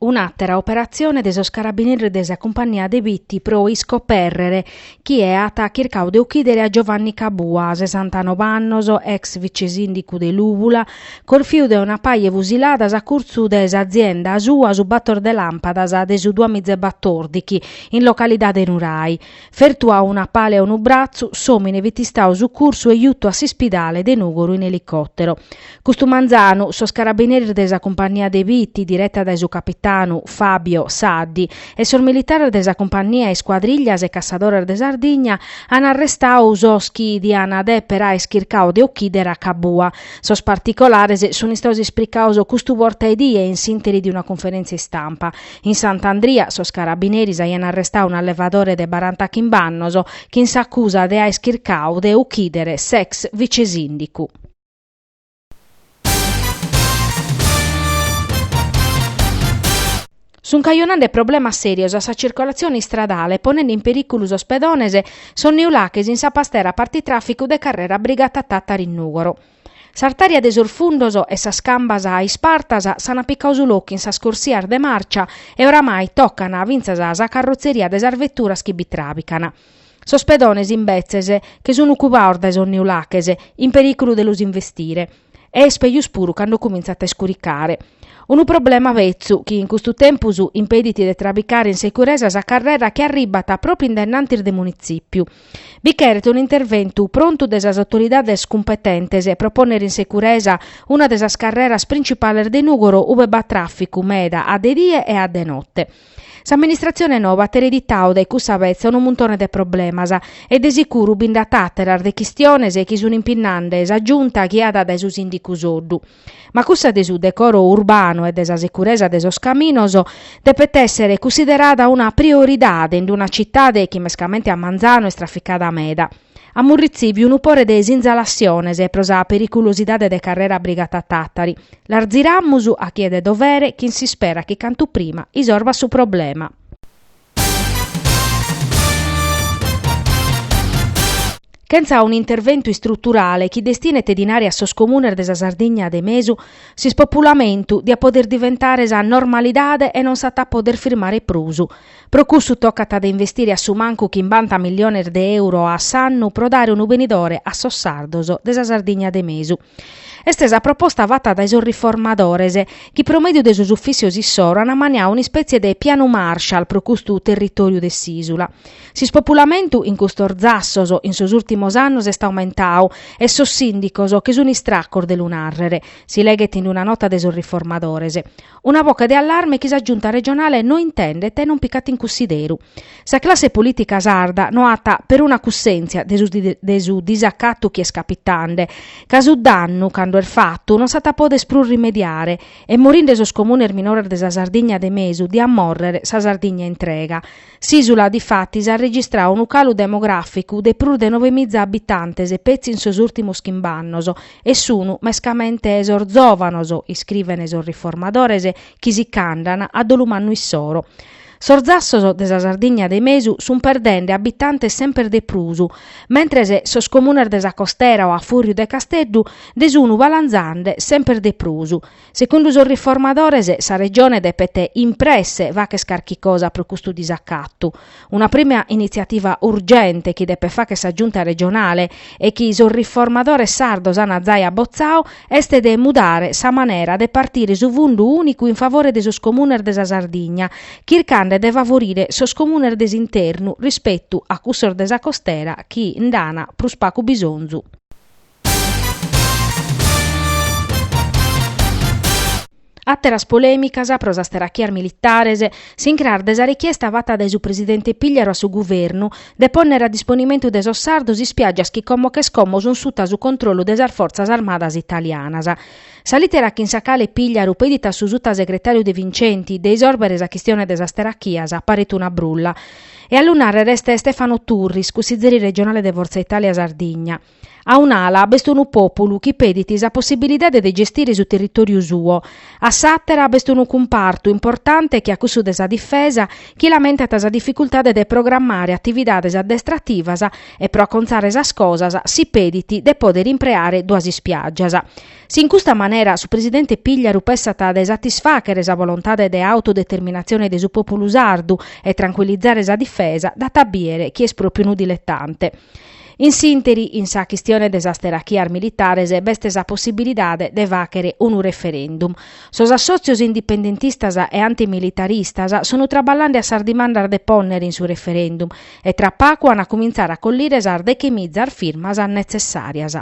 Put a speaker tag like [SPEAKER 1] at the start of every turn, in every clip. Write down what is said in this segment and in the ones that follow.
[SPEAKER 1] Un'àtera operatzione de sos carabineris de sa cumpagnia de Bitti pro iscopèrrere chi aiat chircadu de uchìdere a Giovanni Cabua, sesantanove annos, ex vice-sìndicu de Lùvula, corfiu de una paja 'e fusiladas a curtzu de s'azienda sua su bator de làmpadas de su duamiza e batòrdichi, in localidade Nurai. Fertu a una pala e a unu bratzu, s'òmine fit istau sucursu e jutu a s'ispidale de Nùgoro in elicòtero. Custu manzanu, sos carabineris de sa cumpannia de Bitti, direta dae su capitanu, Fabio Saddi, e sos militares de sa cumpannia Iscuadrillas e Cassadores de Sardigna an arrestau sos chi diant dèpere àere chircau de ochìdere a Cabua. Sos particolares sunt istaus ispricaus custu borta 'e die in s'ìnteri de una cunferèntzia istampa. In Sant'Andria sos carabineris aian arrestau un'allevadore de baranta chimb'annos chin s'acusa de aer chircau de uchidere s'ex vicesindicu. Sun cajonande problemas serios a sa circolatzione istradale ponende in periculu sos pedones, sos neulaches in sa pastera partitraficu de Carrera Brigata Tattari in Nugoro. S'artària de sos fundos e sas cambas ispartas s'an picau su locu in sas corsias de màrcia e oramai tocan fintzas sa carrotzeria de sas veturas chi bi tràbican. Sos pedones imbetzes, che sun cubaos dae sos neulaches, in perìculu de los investire. E est pejus puru cando cumintzat a iscuricare. Unu problema betzu chi in custu tempus impedit de trabicare in securesa sa carrera chi arribat pròpiu in denantis de Munitzìpiu. Bi cheret un'interventu prontu de sas autoridades cumpetentes pro pònnere in securesa una de sas carreras printzipales de Nùgoro ue b'at tràficu meda a de die e a de note. S'amministratzione noba at ereditau dae cussa betza unu muntone de problemas e de sicuru bi nd'at àteras de chistiones chi sun impinnende sa Giunta ghiada dae su sìndicu Soddu. Ma cussa de su decoro urbanu e de sa securesa de sos caminos depet èssere cussiderada una prioridade in d-una citade chi mescamente a manzanu est traficada meda. Amus retzibiu unu pore de sinzalatziones pro sa periculosidade de carrera Brigata Tàtari. Las ziramus a chie de dovere chin s'ispera chi cantu prima isorbat su problema. Chentza un'interventu istruturale chi destinet dinari a sos comunes de sa Sardigna de mesu, s'ispopulamentu diat poder diventare sa normalidade e non s'at a poder firmare prus. Pro cussu tocat de investire a su mancu chimbanta milliones de euro a s'annu pro dare unu benidore a sos sardos de sa Sardigna de mesu. Est sa proposta fata dae sos riformadores, chi pro mèdiu de sos ufìssios issoro ant ammaniadu un'ispètzie de Pianu Marshall pro custu territòriu de s'ìsula. S'ispopulamentu in custos zassos in sos ùrtimos annos est aumentadu e sos sìndicos che sunt istracos de lu nàrrere, si leghet in una nota de sos riformadores. Una boche de allarme chi sa Giunta regionale no intendet e non picat in cussideru. Sa classe polìtica sarda no at peruna cussèntzia de su de su disacatu chi est capitande, ca su dannu, cando est fatu, non s'at a poder prus rimediare, e morinde sos comunes minores de sa Sardigna de mesu diat mòrrere sa Sardigna intrega. S'ìsula, difatis, at registradu unu calu demogràficu de prus de nove miza abitantes petzi in sos ùrtimos chimb'annos, e sun mescamente sos zòvanos, iscrivene sos riformadores, chi si ch'andan a dolu mannu issoro. Sos zassos de sa Sardigna de mesu sun perdende abitantes semper de prus, mentres sos comunes de sa costera o a fùrriu de Casteddu nde sun balanzande semper de prus. Segundu sos riformadores sa Regione depet in presse fagher carchi cosa pro custu disacatu. Una prima initziativa urgente chi depet fagher sa Giunta regionale e chi sos riformadores sardos an zai abotzadu est de mudare sa manera de partire su fundu ùnicu in favore de sos comunes de sa Sardigna, chircande de favorire sos comunes de s'internu rispetu a cussos de sa costera chi nd'an prus pagu bisonzu. Àteras polèmicas pro sas terachias militares s'incras de sa richiesta fata dae su presidente Pìgliaru a su guvernu de pònnere a disponimentu de sos sardos ispiàgias chi como che como sunt suta a su controllu de sas fortzas armadas italianas. Sa lìtera chin sa cale Pìgliaru pedit a su sutasegretàriu De Vincenti de isòrbere sa chistione de sas terachias paret una brulla. E a lu nàrrere est Stefano Turris, cussizeri regionale de Fortza Italia Sardigna. A un'ala b'est unu pòpulu chi pedit sa possibilidade de gestire su territòriu suo, a s'àtera b'est unu cumpartu importante che a cussu de sa difesa chi lamentat sa dificultade de programmare atividades addestrativas e pro acontzare sas cosas si pedit de pòdere impreare duas ispiàgias. Si in custa manera su presidente Pigliaru pessat de satisfàchere sa volontade de autodeterminatzione de su pòpulu sardu e trancuilizare sa difesa, dat a bìdere chi est pròpriu unu diletante. In s'ìnteri, in sa chistione de sas terachias militares b'est sa possibilidade de fàghere unu referendum. Sos assòtzios indipendentistas e antimilitaristas sunt traballande a sas dimandas de pònnere in su referendum e tra pagu ant a cumintzare a collire sas deche mizas firmas netzessàrias.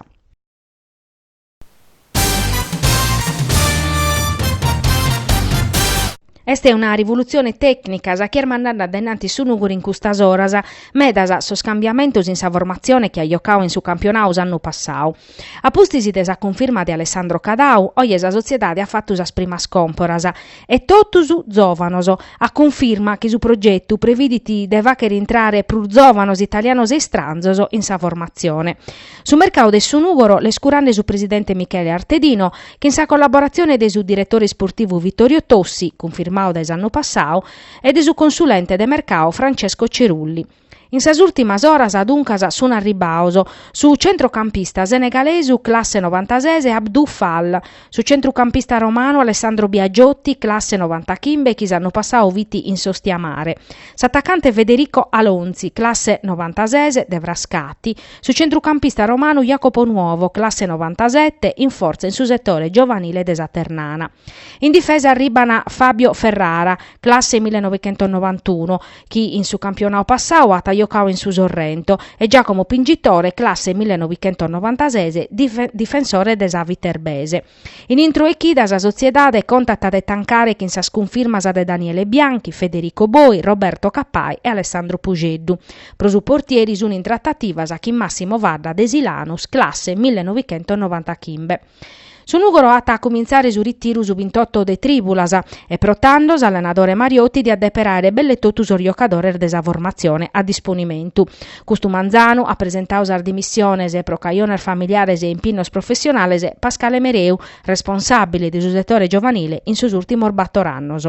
[SPEAKER 1] Est una rivulutzione tècnica sa chi est mandande a dainnanti su Nùgoro in custas oras. Medas sos cambiamentos in sa formatzione chi at jocau in su campionau s'annu passau. A pustis de sa cunfirma de Alessandro Cadau, oje sa sotziedade at fatu sas primas còmporas. E totus zòvanos. A cunfirma chi su progetu previdit de fàghere intrare prus zòvanos italianos e istranzos in sa formatzione. Su mercau de su Nùgoro l'est curande su presidente Michele Artedino, chin sa collaboratzione de su diretore isportivu Vittorio Tossi, cunfirmau dae s'annu passau, e de su consulente de mercau Francesco Cerulli. In sas ùrtimas oras, duncas, sunt arribbaos su centrocampista senegalesu classe novantases Abdou Fall, su centrucampista romanu Alessandro Biagiotti, classe novantachimbe, chi s'annu passau fit in s'Ostiamare, s'atacante Federico Alonzi, classe novantases, de Frascati, Su centrucampista romanu Jacopo Nuovo, classe novantasette, in fortza in su setore giovanile de sa Ternana. In difesa arribban Fabio Ferrara, classe millenovichentosnovantunu, chi in su campionau passau at jocau in su Sorrento, e Giacomo Pingitore, classe millenovichentosnovantases, difensore de sa Viterbese. In intro 'e chida sa sotziedade contat de tancare chin sas cunfirmas de Daniele Bianchi, Federico Boi, Roberto Cappai e Alessandro Puxeddu. Pro su portieri sun in tratativas chin Massimo Fadda de Silanus, classe millenovichentosnovantachimbe. Su Nùgoro at a cumintzare su ritiru su bintotto de trìbulas e pro tando s'allenadore Mariotti diat deper àere belle totu sos jocadores de sa formatzione a disponimentu. Custu manzanu at presentau sas dimissiones pro cajones familiares e impinnos professionales Pascale Mereu, responsàbile de su setore giovanile in sos ùrtimos bator annos.